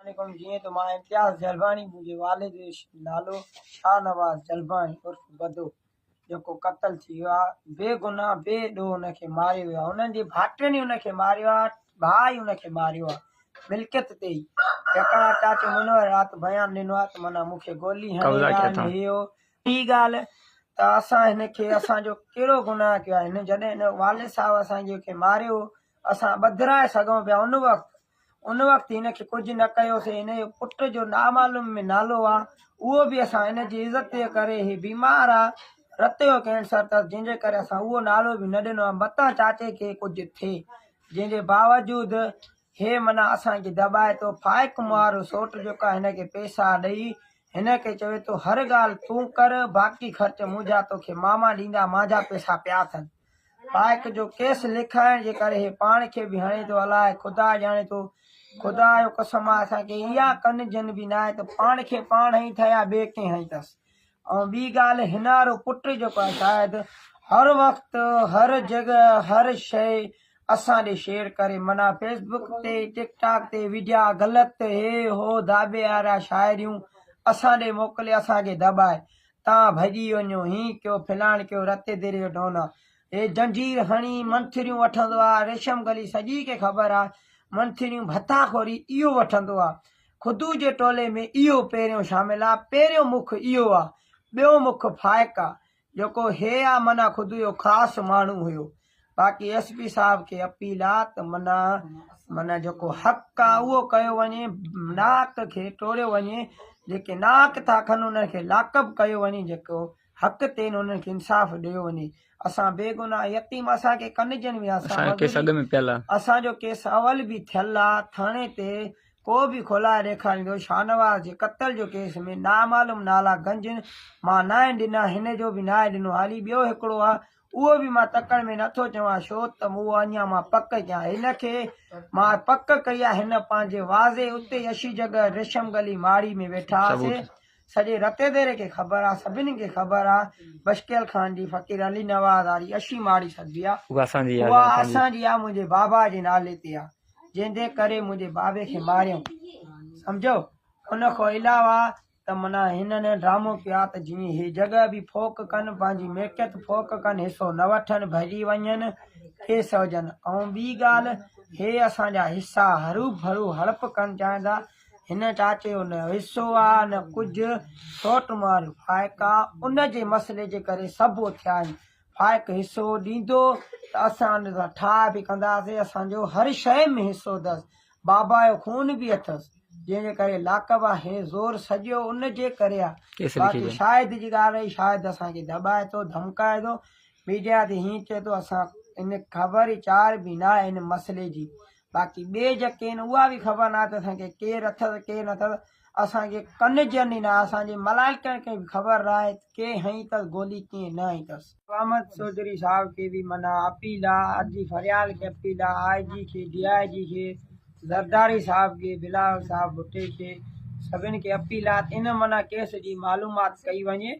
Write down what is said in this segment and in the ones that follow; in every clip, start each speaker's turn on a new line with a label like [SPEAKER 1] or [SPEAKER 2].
[SPEAKER 1] عليڪم جيئن ته مان امتياز جلباڻي منهنجي والد جو نالو شاهنواز جلباڻي عرف بدو جيڪو قتل ٿي ويو آهي بي گناهه بي ڏوهه ان کي ماريو ويو آهي انهن جي ڀائٽين ئي ان کي ماريو آهي ڀاء ئي ان کي ماريو آهي ملڪيت تي ئي جيڪڏهن چاچو منور رات بيان ڏنو آهي ته معنيٰ مون کي گولي هڻي يا هي هو ٻي ڳالهه ته اسان هن کي اسان جو ڪهڙو گناهه ڪيو آهي هن جڏهن هن والد صاحب اسان جي کي ماريو اسان ٻڌرائي سگهون پيا ان وقت ان وقت هن کي ڪجهه نه ڪيوسين هن جو پٽ جو نامعلوم ۾ نالو آ اهو به اسان هن جي عزت جي ڪري هي بيمار آ رت جو ڪينسر تس جنهن جي ڪري اسان اهو نالو به نه ڏنو آ متان چاچي کي ڪجهه ٿئي جنهن جي باوجود هي منا اسان کي دٻائي ٿو فائق مهارو سوٽ جيڪا هن کي پيسا ڏئي هن کي چوي ٿو هر ڳالهه تون ڪر باقي خرچ منهنجا توکي ماما ڏيندا مانجا پيسا پيا اٿن لائق جو ڪيس لکائڻ جي ڪري هي پاڻ کي به هڻي ٿو الاء خدا ڄاڻي ٿو خدا جو قسم آ اسان کي اها ڪن جن به ناهي ته پاڻ کي پاڻ هنئي ٿا يا ٻئي ڪنهن هنئي ٿس ۽ ٻي ڳالهه هنارو پٽ جيڪو آ شايد هر وقت هر جڳهه هر شئي اسان ڏي شيئر ڪري منا فيس بوڪ تي ٽڪ ٽاڪ تي ويڊيا غلط هي هو داٻي آرا شاعريون اسان ڏي موڪلي اسان کي دٻائي تان ڀڄي وڃو، هين ڪيو، ڦلاڻ ڪيو، رتي ديري جو ڊون آ. هي زنجير هڻي منٿريون وٺندو آ، ريشم گلي سڄي کي خبر آ، منٿريون ڀتا خوري اهو وٺندو آ. خدو جي ٽولي ۾ اهو پهريون شامل آ، پهريون مک اهو آ. ٻيو مک فائق آ، جيڪو هي آ معنيٰ خدو جو خاص ماڻهو هيو. باقي ايس پي صاحب کي اپيل آ ته منا منا جيڪو حق آ اهو ڪيو وڃي ناحق کي ٽوڙيو وڃي جيڪي ناحق ٿا کن انهن کي لاڪب ڪيو وڃي جيڪو حق تي آهن انهن کي انصاف ڏيو وڃي اسان بيگناهه يتيم اسان کي ڪن جن ويا اسان جو ڪيس اڳ ۾ پيل آ اسان جو ڪيس اول به ٿيل آ ٿاڻي تي ڪو به کولائي ڏيکاريندو شاهنواز جي قتل جو ڪيس ۾ نامعلوم نالا گنجن مان ناهن ڏنا هن جو به ناهي ڏنو هالي ٻيو هڪڙو آ اهو به مان تڪڙ ۾ نه ٿو چوان ڇو ته مون اهو اڃا مان پڪ ڪيان هن کي مان پڪ ڪئي آهي هن پنهنجي واضح اتي اشي جڳهه ريشم گلي ماڙي ۾ ويٺا هئاسين سڄي رتي ديري کي خبر آهي سڀني کي خبر آهي بشڪيل خان جي فقير علي نواز واري اشي ماڙي سڏبي آهي اها اسان جي آهي اسان جي آهي منهنجي بابا جي نالي تي آهي جنهن جي ڪري منهنجي بابي کي ماريائون سمجهيو ان کان علاوه ته منا هنن ڊرامو ڪيا ته جيئن هي جڳهه به ڦوڪ ڪن پنهنجي ملڪيت ڦوڪ ڪن حصو نه وٺن ڀڄي وڃن کيس هجن ۽ ٻي ڳالهه هي اسان جا حصا هروڀرو هڙپ ڪن چاهيندا هن چاچي جو نه حصو آ نه ڪجهه سوٽ ماريو فائق آ ان جي مسئلي جي ڪري سڀ اٿيا آهن فائق حصو ڏيندو ته اسان ان سان ٺاهه به ڪنداسي اسان جو هر شيء ۾ حصو اٿس بابا جو خون به اٿس جنهن جي ڪري لاقب آ هي زور سڄو ان جي ڪري آ باقي شاهد جي ڳالهه رهي شاهد اسان کي دٻائي ٿو ڌمڪائي ٿو ميڊيا تي هين چئي ٿو اسان ان خبر ئي چار به نه آهي ان مسئلي جي باقي ٻي جيڪي ان اها به خبر نه آهي ته اسان کي ڪير اٿس ڪير نه اٿس اسان کي ڪن جيان ئي ناهي، اسان جي ملائڪن کي به خبر ناهي ته ڪي هنئي ٿس گولي ڪئين نه هنئي ٿس. احمد چوڌري صاحب کي به منان اپيل آ، عرضي فريال کي اپيل آ، آء جي کي، ڊي آء جي کي، زرداري صاحب کي، بلاول صاحب ڀٽي کي سڀن کي اپيل آ ته ان منان ڪيس جي معلومات ڪئي وڃي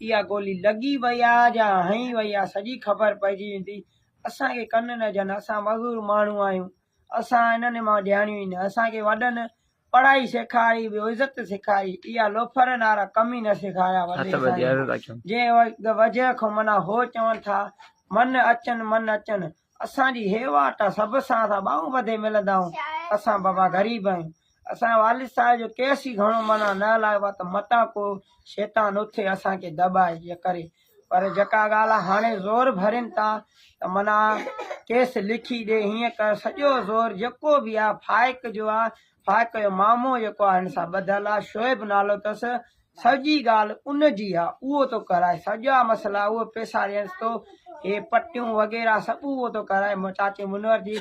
[SPEAKER 1] اها گولي لڳي وئي آ يا هنئي وئي آ سڄي خبر پئجي ويندي، اسان کي ڪن نه جيان اسان مزور ماڻهو آهيون. اسان انهن مان ڄاڻيون ئي نه. اسان کي وڏن پڙهائي سيکاري به عزت سيکاري اها لوفرن وارا ڪم ئي نه سيکاريا وڏي سائين جنهن وجهه کان منا هو چون ٿا من اچن من اچن اسان جي هي واٽ آ سڀ سان اسان ٻانهون ٻڌي ملندائون اسان بابا غريب آهيون اسان والد صاحب جو ڪيس ئي گهڻو معنيٰ نه هلايو آهي ته متان ڪو شيطان اٿي اسان کي دٻائي يا ڪري پر جيڪا ڳالهه آهي هاڻي زور ڀرين ٿا ته معنيٰ ڪيس لکي ڏي هيئن ڪر سڄو زور جيڪو به آهي فائق جو آهي فائق جو مامو جيڪو آهي هن سان ٻڌل آهي شعيب نالو اٿس سڄي ڳالهه ان جي آهي اهو ٿو ڪرائي سڄا مسئلا اهو پيسا ڏينس ٿو هي پٽيون وغيره سڀ اهو ٿو ڪرائي چاچي منور جي